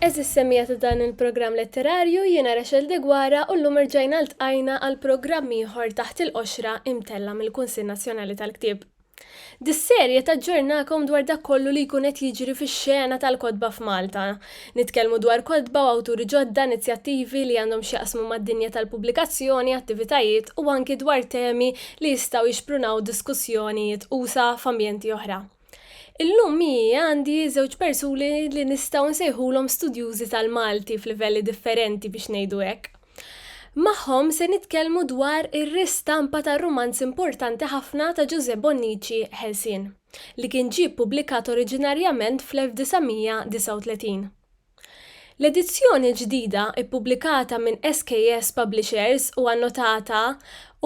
Eżis semmija ta' dan il-programm letterarju jiena Rachel Degwara u l-lum irġajna l-tqajna għal programm ieħor taħt il-qoxra imtella mill-Kunsil Nazzjonali tal-Ktieb. Dis-serje taġġornakom dwar dak kollu li jkun qed jiġri fix-xena tal-kotba f'Malta. Nitkellmu dwar kotba u awturi ġodda, inizjattivi li għandhom x'jaqsmu mad-dinja tal-pubblikazzjoni, attivitajiet u anki dwar temi li jistgħu jixprunaw diskussjonijiet usa' f'ambjenti oħra. Illum miegħi għandi żewġ persuni li nistgħu nsejħulhom studjużi tal-Malti f'livelli differenti biex ngħidu hekk. Magħhom se nitkellmu dwar ir-ristampa tar-rumanz importanti ħafna ta' Ġużè Bonnici Ħelsien, li kien ġie ppubblikat oriġinarjament fl-1939. L-edizzjoni l-ġdida, ippubblikata minn SKS Publishers u annotata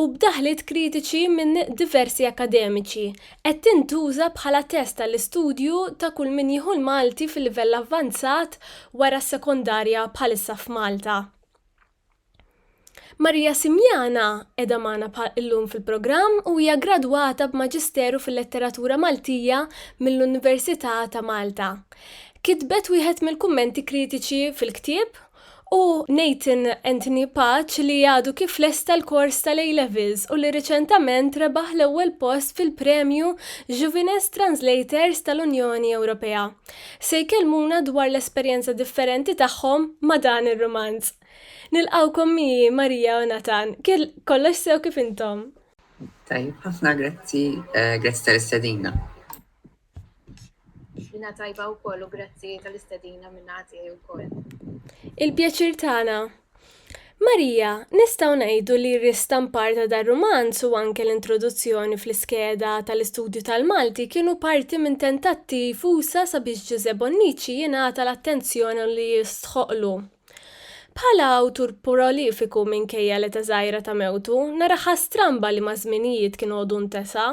u b'daħliet kritiċi minn diversi akkademiċi, qed tintuża bħala test għall-istudju ta' kull min jieħu l-Malti fil-livell avvanzat wara s-sekondarja bħalissa f'Malta. Maria Simjana qiegħda magħna llum fil-programm u hija gradwata b'Maġisteru fil-Letteratura Maltija mill-Università ta' Malta. Kitbet wieħed mill-kummenti kritiċi fil-ktieb u Nathan Anthony Pace li għadu kif lesta l-kors tal-A-Levels u li riċentament rebaħ l-ewwel post fil-Premju Juvines Translators tal-Unjoni Ewropea, se jkellmuna dwar l-esperjenza differenti tagħhom ma' dan ir-rumanz. Nilqgħukom miegħi Maria u Nathan. Kollox sew kif intom? Tajjeb ħafna, grazzi, grazzi tal-istedina. Jina tajba u koll u grazzi tal-istedina minna għati u koll. Il-pjaċir tagħna. Marija, nistaw ngħidu li r-ristampar ta' dar rumanz u anke l-introduzzjoni fl-iskeda tal-istudju tal-Malti kienu parti minn tentattiv usa sabiex Ġużè Bonnici jingħata l-attenzjoni li jistħoqqlu. Bħala awtur prolifiku minkejja l-età żgħira ta' mewtu, naraha stramba li maż-żminijiet kien għodu ntesa'.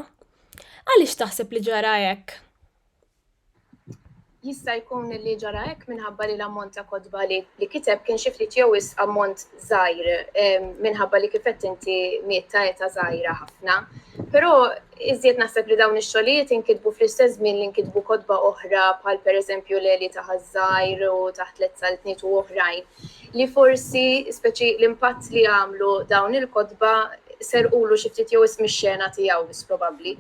Għaliex taħseb li ġara hekk? Jista' jkun li ġara hekk minħabba li l-ammont ta' kotba li kiteb kien xi ftit jew wisq ammont żgħir minħabba li kif qed inti miet ta' età żgħira ħafna. Però iżjed naħseb li dawn ix-xogħlijiet inkitbu fl-istess żmien li nkitbu kotba oħra bħal pereżempju l-Għeli ta' Ħaż-Żgħir u Taħt l-Etza Ltniet u oħrajn. li forsi, speċi l-impatt li għamlu dawn il-kotba serqulu xi ftit jew ism ix-xena tiegħu biss probabbli.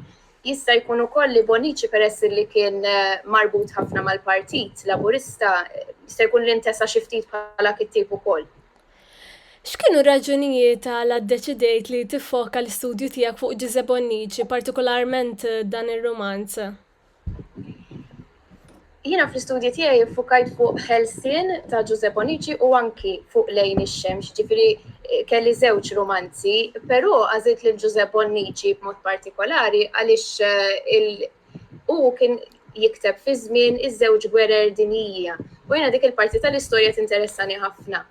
Jista' jkun ukoll li Bonnici peress li kien marbut ħafna mal-Partit Laburista jista' jkun li ntesa xi ftit bħala kittieb ukoll. X'kienu r-raġunijiet għala ddeċidejt li tiffoka l-istudju tiegħek fuq Ġiżè Bonnici, partikolarment dan ir-rumanz? Jiena fl-istudji tiegħi fukajt fuq Helsin ta' Giuseppe Onici u anki fuq Lejn ix-Xemx, ġifieri eh, kelli żewġ romanzi, però għażilt lil Giuseppe Onici b'mod partikolari għaliex eh, u kien jikteb fi żmien iż-żewġ gwerer dinjija. U jiena dik il-parti tal-istorja tinteressani ħafna.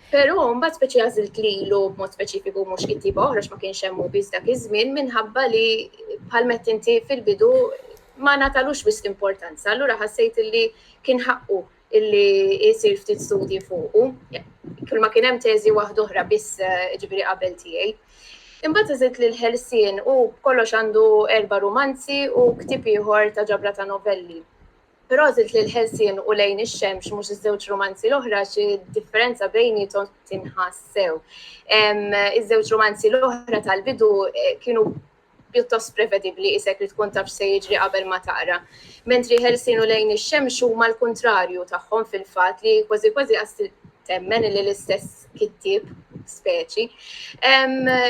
Però mbagħad speċi għażilt lilu b'mod speċifiku mhux kittieba oħra ma kienx hemm biss dak iż-żmien minħabba li bħal mett inti fil-bidu ma natalux wisq importanza, allura ħassejt illi kien ħaqqu illi jsir ftit studji fuqu. Kull ma kien hemm teżi waħda oħra biss eh, ġifieri qabel tiegħi. Imbagħad iżid li l-ħelsien u kollox għandu erba' rumanzi u ktieb ieħor ta' ġabra ta' novelli. Prosit lil Ħelsien u Lejn ix-Xemx mhux iż-żewġ rumanzi l-oħra xi differenza bejniethom tinħass sew. Iż-żewġ rumanzi l-oħra tal-bidu eh, kienu pjuttost prevedibbli isek li tkun taf se jiġri qabel ma taqra. Mentri Ħelsien u Lejn ix-Xemx huma l-kuntrarju tagħhom fil-fatt li kważi kważi qas temmen li l-istess kittib speċi.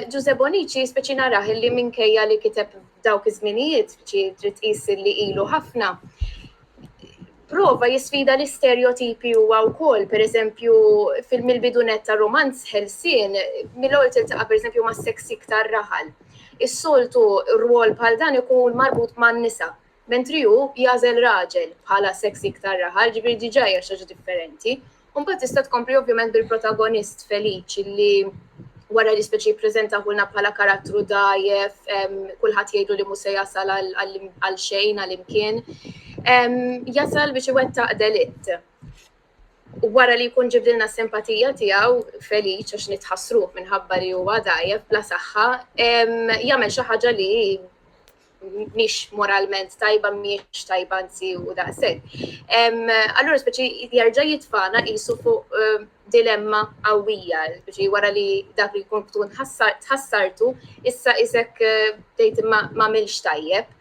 Ġuże Bonici speċi naraħ li minkejja li kiteb f'dawk iż-żminijiet, ġi trid tqis li ilu ħafna, prova jisfida l-istereotipi huwa wkoll, pereżempju film il-bidunet ta' romanz ħelsien, mill-ewwel tiltaqa' pereżempju ma' seks iktar raħal. Is-soltu rwol bħal dan ikun marbut man-nisa, mentri hu jagħżel raġel bħala seks iktar raħal, ġifieri diġà hija xi ħaġa differenti. U mbagħad tista' tkompli ovvjament bil-protagonist Feliċ li wara li speċi jippreżentahulna bħala karattru dajjef, kulħadd jgħidu li mhu se jasal għal xejn għal imkien. Jasal biex iwettaq delitt. U wara li jkun ġibdilna s-simpatija tiegħu Feliċ għax nitħassruh minħabba li huwa dajjef bla saħħa, jagħmel xi ħaġa li mhix moralment tajba, mhix tajba nsi u daqshekk. Allura speċi jarġa' jitfana qisu fuq ehm, dilemma qawwija, speċi wara li dak li jkun tkun tħassartu, issa isek eh, tgħid ma milx tajjeb.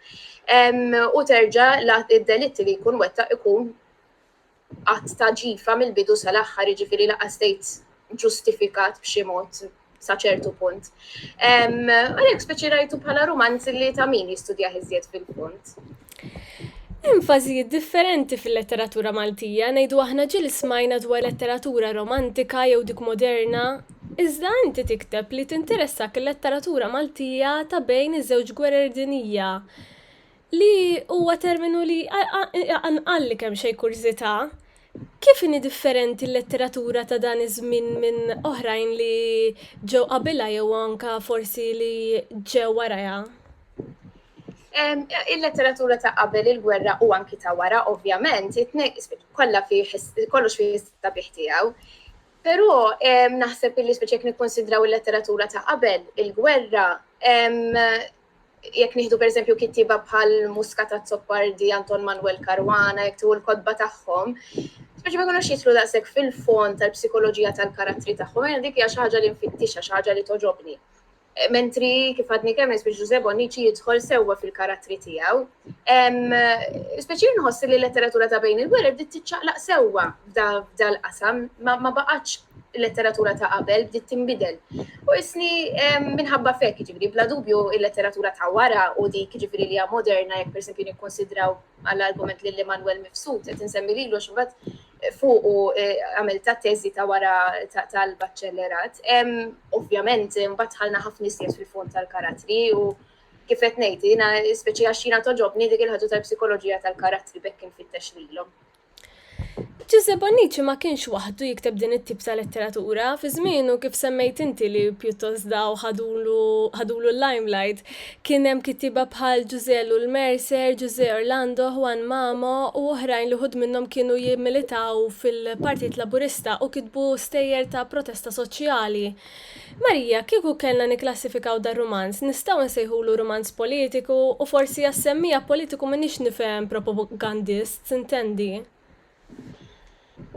U terġa' id-delitti li jkun wettaq ikun att ta' ġifa mill-bidu sal-aħħar, jiġifieri lanqas tgħid ġustifikat b'xi mod sa ċertu punt. Għalhekk speċi rajtu bħala rumanz li ta' min jistudjah iżjed fil-fond. Enfasi differenti fil-letteratura Maltija ngħidu aħna ġil smajna dwar letteratura romantika jew dik moderna, iżda inti tikteb li tinteressak il-letteratura Maltija ta' bejn iż-żewġ gwerer dinija. li huwa terminu li iqanqalli kemxejn kurżità, kif inhi differenti l-letteratura ta' dan iż-żmien minn oħrajn li ġew qabilha jew anke forsi li ġew warajha? Il-letteratura ta' qabel il-gwerra u anki ta' wara, ovvjament, kollha fih kollox fih is-sabiħ tiegħu. Però naħseb li speċi jekk nikkonsidraw il-letteratura ta' qabel il-gwerra, jekk nieħdu pereżempju kittieba bħal Muska ta' Zoppardi, Anton Manuel Caruana, jekk tu l-kodba tagħhom, speċi ma jkunux jitlu daqshekk fil-fond tal-psikoloġija tal-karattri tagħhom, jien dik hija xi ħaġa li nfittixha, xi ħaġa li toġobni. Eh, mentri kif għadni kemm nisbiex Ġuże Bonnici jidħol sewwa fil-karattri tiegħu. Speċi nħoss li l-letteratura ta' bejn il-gwerer bdiet tiċċaqlaq sewwa f'dal-qasam ma baqgħatx il-letteratura ta' qabel bdiet tinbidel. U isni minħabba fekk, ġifiri, bla dubju il-letteratura ta' wara u dik ġifiri li hija moderna jekk persempju nikkonsidraw għall-argument li l-Emanuel Mifsud qed insemmi lilu x'bad fuq u e, għamil ta' teżi ta' wara tal-baċċellerat. Ovvjament, mbagħad ħalna ħafna iżjed fil-fond tal-karatri u kif qed ngħid, jiena speċi għax jiena toġobni dik il-ħadu tal-psikoloġija tal-karattri bekk infittex lilhom. Giuseppe Bonnici ma kienx waħdu jikteb din it-tip ta' letteratura. Fi żmienu kif semmejt inti li pjuttost daw ħadulu l-limelight, kien hemm kittieba bħal Ġużelu l-Mercer, Ġużè Orlando, Juan Mamo u oħrajn li wħud minnhom kienu jimmilitaw fil-Partit Laburista u kitbu stejjer ta' protesta soċjali. Marija, kieku kellna nikklassifikaw dar-rumanz, nistgħu nsejħulu rumanz politiku u forsi għas-semmiegħa politiku m'iniex nifhem propogandist. tintendi?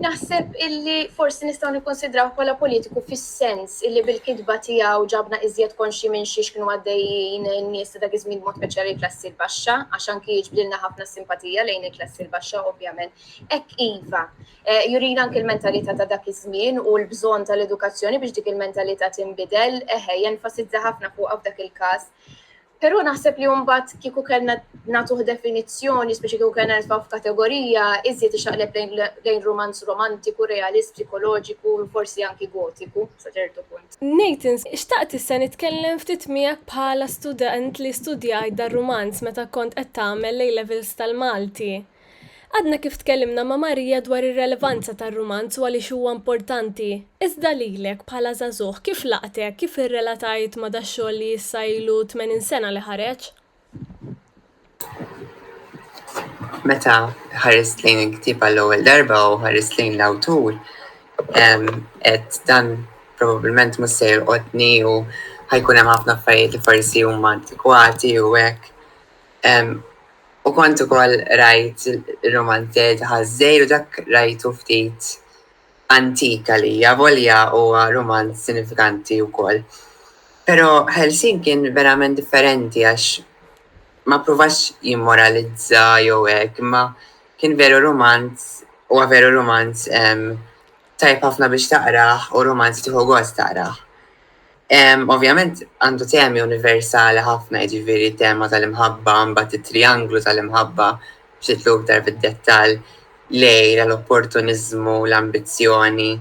Naħseb illi forsi nistgħu nikkunsidrawh bħala politiku fis-sens illi bil-kitba tiegħu ġabna iżjed konxji minn xiex kienu għaddejjin in-nies ta' dak iż-żmien b'mod speċjali l-klassi l-baxxa, għax anki jiġbdilna ħafna simpatija lejn il-klassi l-baxxa ovvjament. Hekk iva, eh, jurina anki l-mentalità ta' dak iż-żmien u l-bżonn tal-edukazzjoni biex dik il-mentalità tinbidel, eħe, jenfasizza ħafna fuqha f'dak il-każ. Però naħseb li mbagħad kieku kellna nagħtuh definizzjoni, speċi kieku kellna nitfgħu f'kategorija, iżjed ixaqleb lejn romanz romantiku, realist, psikoloġiku, forsi anki gotiku, sa ċertu punt. Nathan, xtaqt issa nitkellem ftit miegħek bħala student li studjajt dar-rumanz meta kont qed tagħmel l-A-Levels tal-Malti. Għadna kif tkellimna ma' Maria dwar ir-relevanza tar-rumanz u għaliex huwa importanti. Iżda lilek, bħala żagħżugħ, kif laqtek, kif irrelatajt ma' dax-xogħol li issa ilu tmenin sena li ħareġ? Meta ħarist lejn il-ktiba l-ewwel darba u ħarist lejn l-awtur, qed dan probabbilment mhux se jolqotni u ħajkun hemm ħafna affarijiet li forsi huma antikwati u hekk. U kont ukoll rajt ir-rumanzez Ħaż-Żgħir u dak rajtu ftit antik għalija, avolja huwa rumanz sinifikanti wkoll. Però Ħelsien kien verament differenti għax ma ppruvax jimmoralizza jew hekk, imma kien veru rumanz, huwa veru rumanz tajjeb ħafna biex taqrah u rumanz li tieħu gost taqrah. Ovvjament għandu temi universali ħafna, jiġifieri tema tal-imħabba, mbagħad it-trianglu tal-imħabba b'xitlu iktar fid-dettall, lejla, l-opportuniżmu, l-ambizzjoni.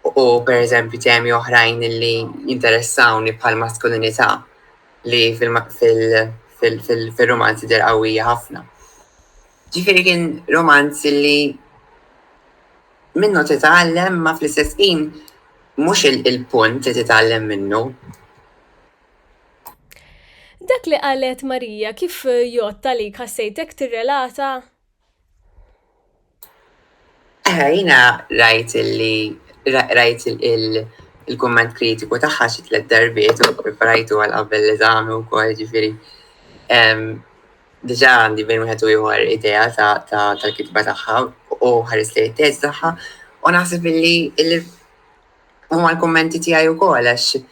U per eżempju temi oħrajn li jinteressawni bħal maskulinità li fil-romanzi der qawwija ħafna. Ġifieri kien romanz li minnu titgħallem ma fl-istess ħin mhux il-punt li titgħallem minnu. Dak li qalet Marija kif jgħodd għalik ħassejtek tirrelata? Eħe, jiena rajt illi rajt il-kumment kritiku tagħha xi tliet darbiet u preparajtu għal qabel l-eżami wkoll ġifieri. Diġà għandi bejn wieħed u ieħor idea tal-kitba tagħha u ħares li t-test tagħha u naħseb illi huma l-kummenti tiegħi wkoll għax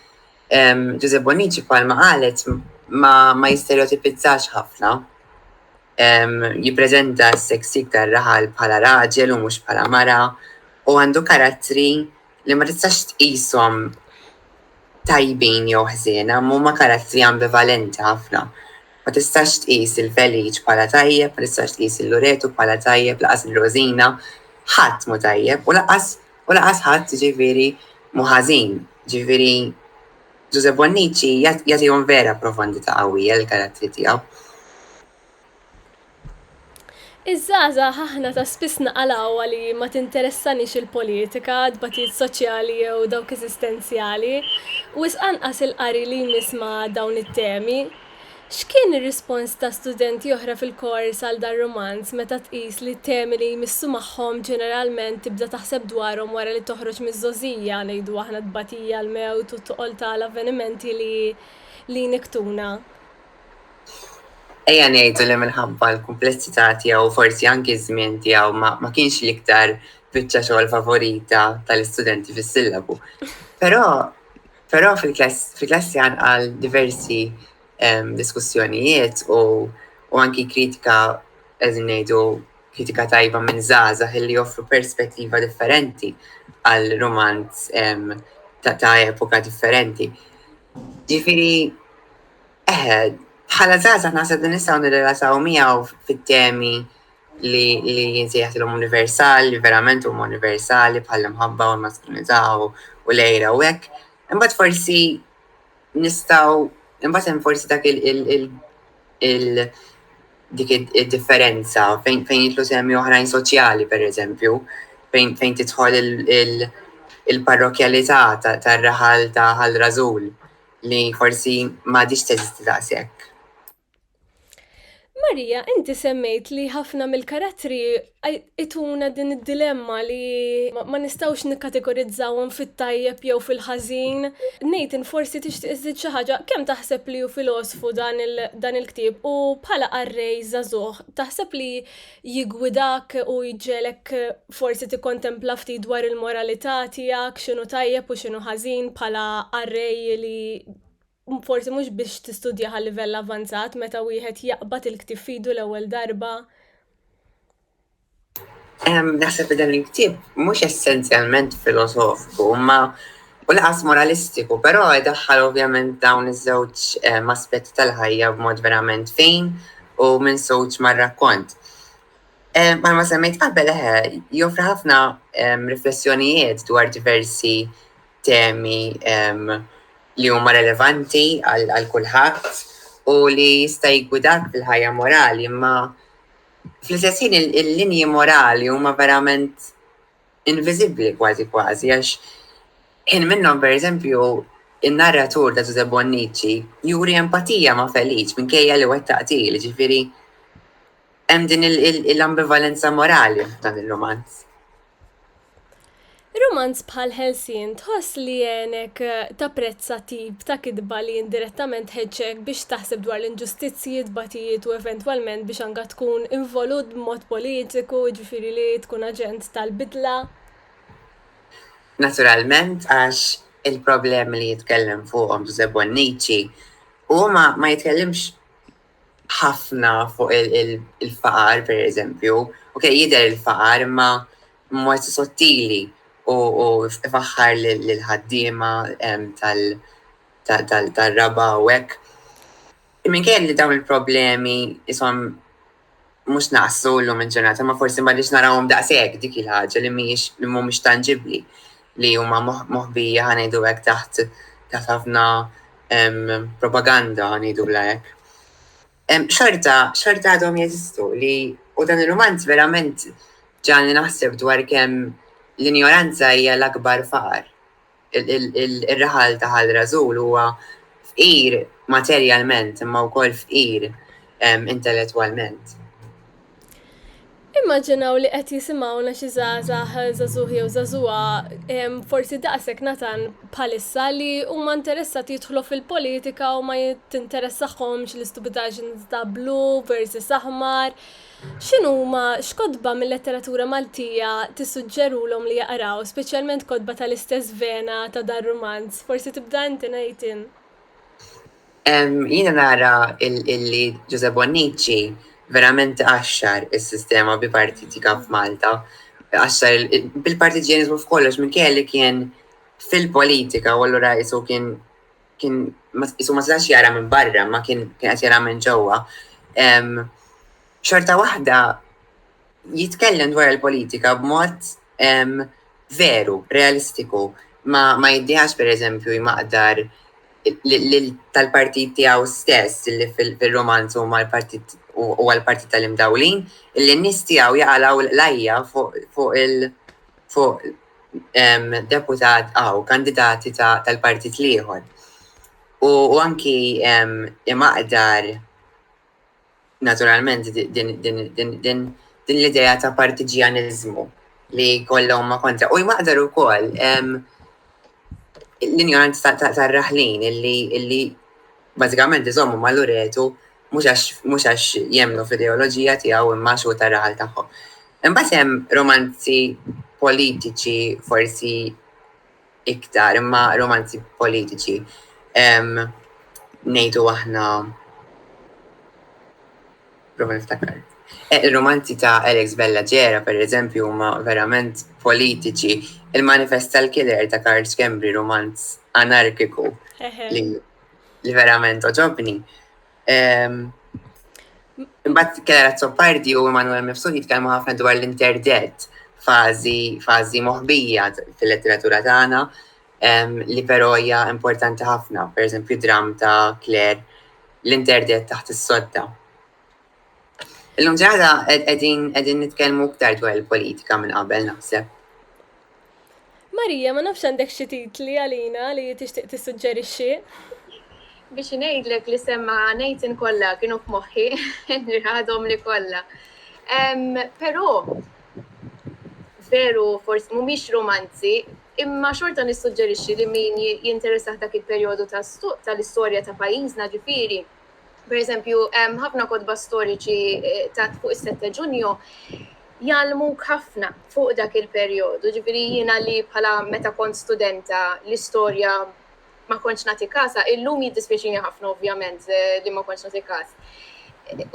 Giuseppe Bonnici bħalma qalet ma jisterjotipizzax ħafna. jippreżenta s-seksik tar-raħal bħala raġel u mhux bħala mara, u għandu karattri li ma tistax tqishom tajbin jew ħżiena, huma karattri ambivalenti ħafna. Ma tistax tqis il-Feliċ bħala tajjeb, ma tistax tqis il-Luretu bħala tajjeb, lanqas il-Rożina, ħadd mhu tajjeb u lanqas u lanqas ħadd ġifieri mhu ħażin. Ġifieri Ġużepp Bonnici jagħtihom vera profondità qawwija lill-karattri tiegħu. Iż-żgħażagħ aħna ta' spiss naqalgħuha li ma tinteressanix il-politika, tbatijiet soċjali jew dawk eżistenzjali. Wisq anqas il-qari li jmiss ma' dawn it-temi. X'kien ir-rispons ta' studenti oħra fil-kors għal dar-rumanz meta tqis li t-temi li jmissu magħhom ġeneralment tibda taħseb dwarhom wara li toħroġ miż-żgħożija, ngħidu aħna t-tbatija, l-mewt u t-toqol ta' l-avvenimenti li li jnikktuna? Ejja ngħidu li minħabba l-kumplessità tiegħu u forsi anki ż-żmien tiegħu ma ma kienx l-iktar biċċa xogħol favorita ta' l-istudenti fis-sillabu. Però, Però fil-klassi għal diversi diskussjonijiet u anki kritika qegħdin ngħidu kritika tajba minn żgħażagħ illi joffru perspettiva differenti għal romanz ta' epoka differenti. Ġifieri eħe, bħala żgħażagħ naħseb li nistgħu nirrelataw miegħu fit-temi li li jinsejħilhom universali, verament huma universali bħal mħabba u l-maskulinità u lejra u hekk. Imbagħad forsi nistgħu imbagħad hemm forsi dak il dik id-differenza fejn fejn jitlu semmi oħrajn soċjali pereżempju, fejn fejn tidħol il-parrokjalità tar-raħal ta' ħal rażul li forsi m'għadix teżisti daqshekk. Marija, inti semmejt li ħafna mill-karattri ituna din id-dilemma li ma nistgħux nikkategorizzawhom fit-tajjeb jew fil-ħażin. Nathan, forsi tixtieq iżżid xi ħaġa, kemm taħseb li hu filosfu dan il-dan il-ktieb u bħala qarrej żagħżugħ, taħseb li jiggwidak u jġegħlek forsi tikkontempla ftit dwar il-moralità tiegħek, x'inhu tajjeb u x'inhu ħażin bħala qarrej li forsi mhux biex tistudja għal livell avanzat meta wieħed jaqbad il-ktieb fidu l-ewwel darba. Naħseb dan il-ktieb mhux essenzjalment filosofiku, ma u laqas moralistiku, però daħħal ovvjament dawn iż-żewġ aspetti tal-ħajja b'mod verament fejn u minn soċ mar-rakkont. Ma ma semmejt qabel eħe, joffri ħafna riflessjonijiet dwar diversi temi li huma relevanti għal kulħadd u li jista' jiggwidak fil-ħajja morali, imma fl-istess ħin il-linji morali huma verament inviżibbli kważi kważi għax ħin minnhom pereżempju in-narratur ta' Giuseppe Bonnici juri empatija ma' Feliċ minkejja li wettaq til, ġifieri Hemm din l-ambivalenza morali f'dan ir-rumanz. Rumanz bħal Ħelsien tħoss li jgħinek tapprezza tip ta' kitba li indirettament tħeġġek biex taħseb dwar l-inġustizzji, tbatijiet u eventwalment biex anka tkun involut b'mod politiku, jiġifieri li tkun aġent tal-bidla? Naturalment għax il-problemi li jitkellem fuqhom Ġużè Bonnici huma ma jitkellimx ħafna fuq il-faqar, per eżempju, u kej jider il-faqar imma mod sottili u faħħar l-ħaddima tal-raba u hekk. Minkejja li dawn il-problemi jisom mhux naqsu llum il-ġurnata, ma forsi m'għadniex narawhom daqshekk dik il-ħaġa li mhijiex li mhumiex tanġibbli li huma moħbija ħanejdu hekk taħt taħt ħafna propaganda ngħidu bla hekk. Xorta, xorta għadhom jeżistu li u dan il-romanz verament ġani naħseb dwar kemm l-injoranza hija l-akbar faqar ir-raħal ta' Ħal Rażul huwa fqir materjalment imma wkoll fqir intellettwalment. Immaġinaw li qed jisimgħuna xi żgħażagħ żagħżugħ jew żagħżugħa forsi daqshekk natan bħalissa li huma interessati jidħlu fil-politika u ma tinteressahomx l-istupidaġni ta' blu versus aħmar. X'inhuma, x'kotba mil-letteratura Maltija tissuġġerulhom li jaqraw, speċjalment kotba tal-istess vena ta' dar-rumanz? Forsi tibda inti, Nathan. Jiena nara illi Ġużè Bonnici verament għaxxar is-sistema bipartitika f'Malta, għaxxar bil-partiġjaniżmu f'kollox minkejja li kien fil-politika u allura qisu kien kien isu ma setax jara minn barra, ma kien kien qed jara minn ġewwa. Xorta waħda jitkellem dwar il-politika b'mod veru, realistiku, ma, ma jiddiħax per eżempju jmaqdar tal-partit tiegħu stess li fil-romanz u mal-partit u għal-partit tal-imdawlin, il-nis tiegħu jaqalaw l-lajja fuq il- fuq deputat għaw kandidati tal-partit liħor. U anki imaqdar naturalment din l-ideja ta' partiġjanizmu li kollhom ma kontra. U jmaqdar u koll l-injoranza ta' raħlin illi bażikament iżommu ma' Luretu mhux għax jemmnu fl-ideoloġija tiegħu imma għax hu tara għal tagħhom. Imbagħad hemm romanzi politiċi forsi iktar, imma romanzi politiċi. Nejdu aħna prova niftakar. Eh, il-romanzi ta' Alex Bella Ġera, per eżempju, huma verament politiċi. Il-manifest tal-killer ta' Karl Skembri, romanz anarkiku, li li verament oġobni. Imbagħad Kera Zoppardi u Emanuel Mifsud jitkellmu ħafna dwar l-interdett fażi fażi moħbija fil-letteratura tagħna li però hija importanti ħafna, pereżempju dram ta' Claire l-interdett taħt is-sodda. Illum ġada qegħdin qegħdin nitkellmu iktar dwar il-politika minn qabel naħseb. Marija, ma nafx għandek xi titli għalina li tixtieq tissuġġerixxi? Biex ngħidlek li semma ngħidin kollha kienu f'moħħi, nirħadhom li kollha. Però veru forsi mhumiex romanzi, imma xorta nissuġġerixxi li min jinteressaħ dak il-perjodu tal-istorja ta' pajjiżna ġifieri Per eżempju, ħafna kodba storiċi eh, ta' fuq is-sette ġunju jalmu ħafna fuq dak il-perjodu. Ġifieri jiena li bħala meta kont studenta l-istorja ma kontx nagħti kasa, illum jiddispjaċini ħafna ovvjament eh, li ma kontx nagħti kas.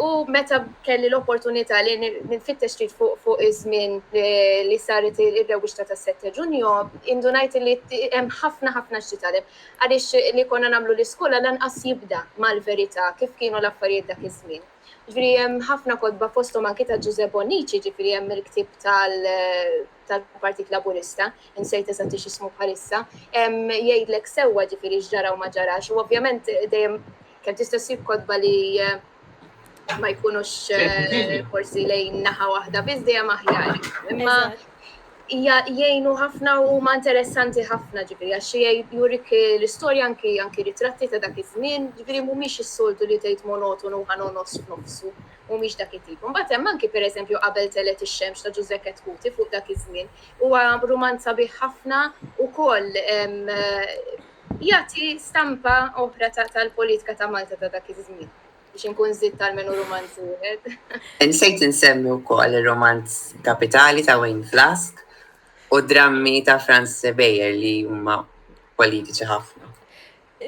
U meta kelli l-opportunità li nfittex trid fuq fuq iż-żmien eh, li saret ir-rewwixta tas-sette ġunju, indunajt li hemm ħafna ħafna x'titgħallem. Għaliex li konna nagħmlu l-iskola lanqas jibda mal-verità kif kienu l-affarijiet dak iż-żmien. Ġifieri hemm ħafna kotba fosthom anki ta' Ġużè Bonnici, ġifieri hemm il-ktieb tal-Partit Laburista, insejt eżatti x'ismu bħalissa, jgħidlek sewwa ġifieri x'ġara u ma ġarax u ovvjament dejjem kemm tista' ssib kotba li ma jkunux eh, forsi lejn naħa waħda biss dejjem aħjar. Imma jgħinu ħafna u ma interessanti ħafna ġifiri, għax jurik l-istorja anki anki ritratti ta' dak iż-żmien, ġifiri mhumiex is-soltu li tgħid monotonu ħanonos f'nofsu, mhumiex dak it-tip. Mbagħad hemm anki pereżempju qabel telet ix-xemx ta' Ġużekk Kuti fuq dak iż-żmien. Huwa rumanza bih ħafna ukoll Jagħti stampa oħra tal-politika ta' Malta ta' dak iż-żmien, biex inkun żidt almenu rumanz wieħed. Insejt insemmi wkoll ir-rumanz Kapitali ta' Wayne Flask u d-drammi ta' Franz Sebejer li huma politiċi ħafna.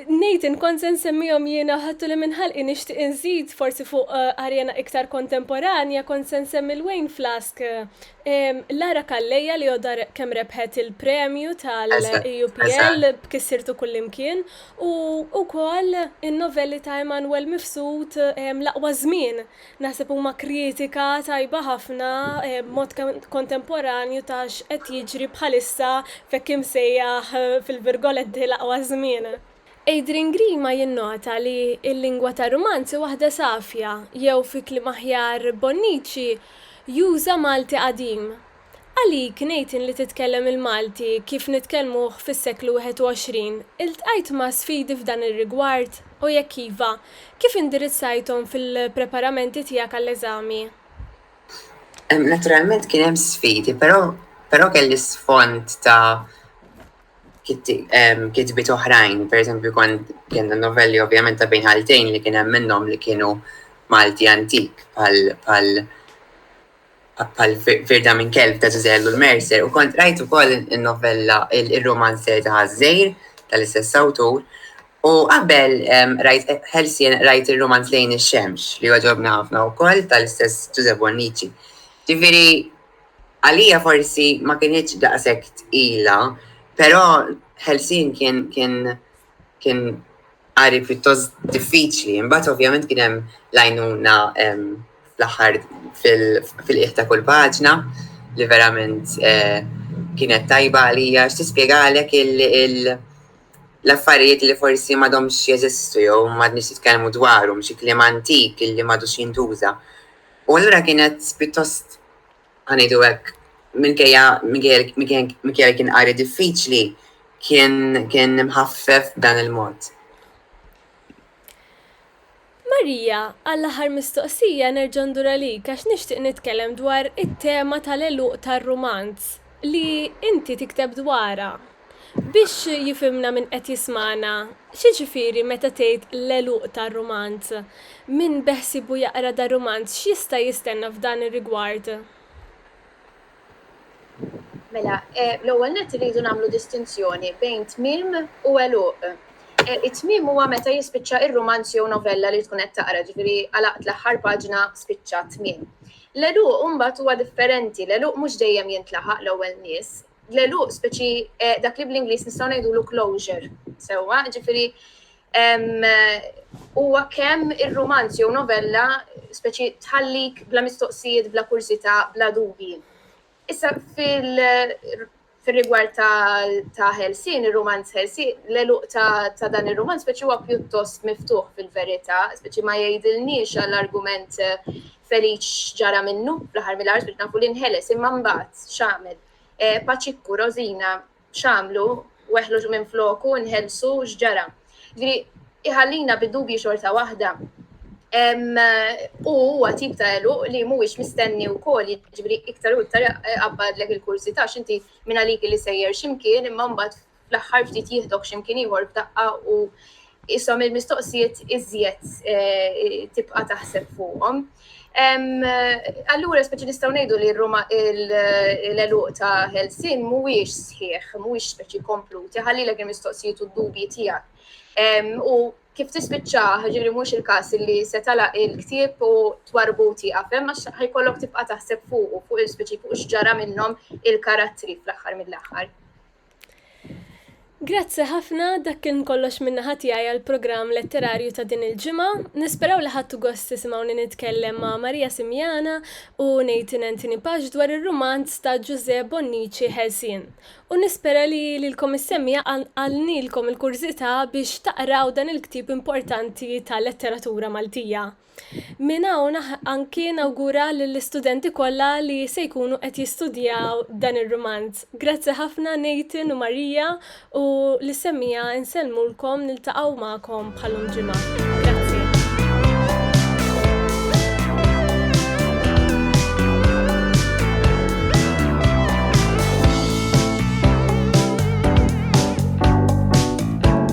Nathan, kont se nsemmihom jiena, ħadtuli minn ħalqi nixtieq inżid forsi fuq arena iktar kontemporanja, kont se nsemmi 'l Wayne Flask Lara Calleja li għodha kemm rebħet il-premju tal-EUPL b'Kissirtu Kullimkien u wkoll in-novelli ta' Emmanuel Mifsud L-Aqwa Żmien. Naħseb huma kritika tajba ħafna b'mod kontemporanju ta' x'qed jiġri bħalissa f'hekk imsejjaħ fil-virgoletti l-aqwa żmien. Adrian Grima jinnota li l-lingwa tar-rumanz hi waħda safja, jew fi kliem aħjar Bonnici juża Malti qadim. Għalik, Nathan, li titkellem il-Malti kif nitkellmuh fis-seklu 21, iltqajt ma' sfidi f'dan ir-rigward, u jekk iva, kif indirizzajthom fil-preparamenti tiegħek għall-eżami? Naturalment kien hemm sfidi, però, però kelli sfond ta', kitbiet oħrajn, per eżempju kont kienna novelli ovvjament ta' bejn ħaltejn li kien hemm minnhom li kienu Malti antik pal pal firda minn kelb ta' Zuzellu l-Mercer u kont rajt ukoll in-novella il-romanzer ta' Ħażżejr tal-istess awtur u qabel rajt ħelsien rajt ir-romanz lejn ix-xemx li għaġobna ħafna wkoll tal-istess Ġużepp Bonnici. Ġifieri Għalija forsi ma kinitx daqshekk tqila, però Ħelsien kien kien kien qari pjuttost diffiċli. Imbagħad ovvjament kien hemm l-għajnuna fl-aħħar fil-qiegħ ta' kull paġna li verament kienet tajba għalija għax tispjegalek l-affarijiet li forsi m'għadhomx jeżistu jew m'għadniex nitkellmu dwarhom, xi kliem antik li m'għadux jintuża. U allura kienet pjuttost għanidu hekk minkejja minkejja kien qari diffiċli kien kien imħaffef dan il-mod. Marija, għall-aħħar mistoqsija nerġa' ndur għalik għax nixtieq nitkellem dwar it-tema tal-għeluq tar-rumanz li inti tikteb dwarha. Biex jifhimna min qed jismagħna, x'jiġifieri meta tgħid l-għeluq ta' rumanz? Min beħsiebu jaqra dan rumanz x'jista' jistenna f'dan ir-rigward? Mela, l-ewwel nett irridu nagħmlu distinzjoni bejn tmiem u għeluq. It-tmiem huwa meta jispiċċa r-rumanz jew novella li tkun qed taqra, ġifieri għalaqt l-aħħar paġna, spiċċa, tmiem. L-għeluq imbagħad huwa differenti, l-għeluq mhux dejjem jintlaħaq l-ewwel nies, l-għeluq speċi dak li bl-Ingliż nistgħu ngħidulu closure, sewwa, ġifieri huwa kemm ir-rumanz jew novella speċi tħallik bla mistoqsijiet, bla kurzità, bla dubji. Issa fil-rigward ta' Helsin, ir-rumanz Helsin, l-eluq ta' dan ir-rumanz speċi huwa pjuttost miftuħ fil-verità, speċi ma jgħidilniex għall-argument Feliċ ġara minnu, fl-aħħar mill-aħħar spiċċa nafu li nħeles, imma mbagħad x'għamel? Paċikku, Rożina, x'għamlu? Weħlu ġu minfloku, inħelsu, x'ġara? Jiġifieri iħallina bid-dubji xorta waħda. U huwa tip ta' eluq li mhuwiex mistenni wkoll, jiġifieri iktar u iktar qabbadlek il-kurżità x'inti minn għalik li sejjer x'imkien imma mbagħad fl-aħħar ftit jihdok x'imkien ieħor b'daqqa u isom il-mistoqsijiet iżjed eh, tibqa' taħseb fuqhom. Allura, speċi nistaw nejdu li l-eluq ta' Helsin mhuwiex sħiħ, mhuwiex speċi kompluti, ħalli l mistoqsijiet u d-dubji tiegħek. U kif tispiċċa ġiri mhux il-każ li se tala il-ktieb u twarbu tieqaf hemm għax ħajkollok tibqa' taħseb fuq u fuq il-speċi fuq x'ġara minnhom il-karattri fl-aħħar mill-aħħar. Grazzi ħafna, dak kien kollox minn naħa tiegħi għall-programm letterarju ta' din il-ġimgħa. Nisperaw li ħadtu gost tisimgħuni nitkellem ma' Maria Simiana u Nathan Anthony Pax dwar ir-rumanz ta' Ġużè Bonnici Ħelsien. U nispera li lilkom is-semmiegħa qalqalnilkom il-kurżità biex taqraw dan il-ktieb importanti tal-letteratura Maltija. Minn hawn anki nawgura lill-istudenti kollha li se jkunu qed jistudjaw dan ir-rumanz. Grazzi ħafna Nathan u Marija u lis-semmiegħa nsellmulkom niltaqgħu magħkom bħalum ġimgħa. Grazzi.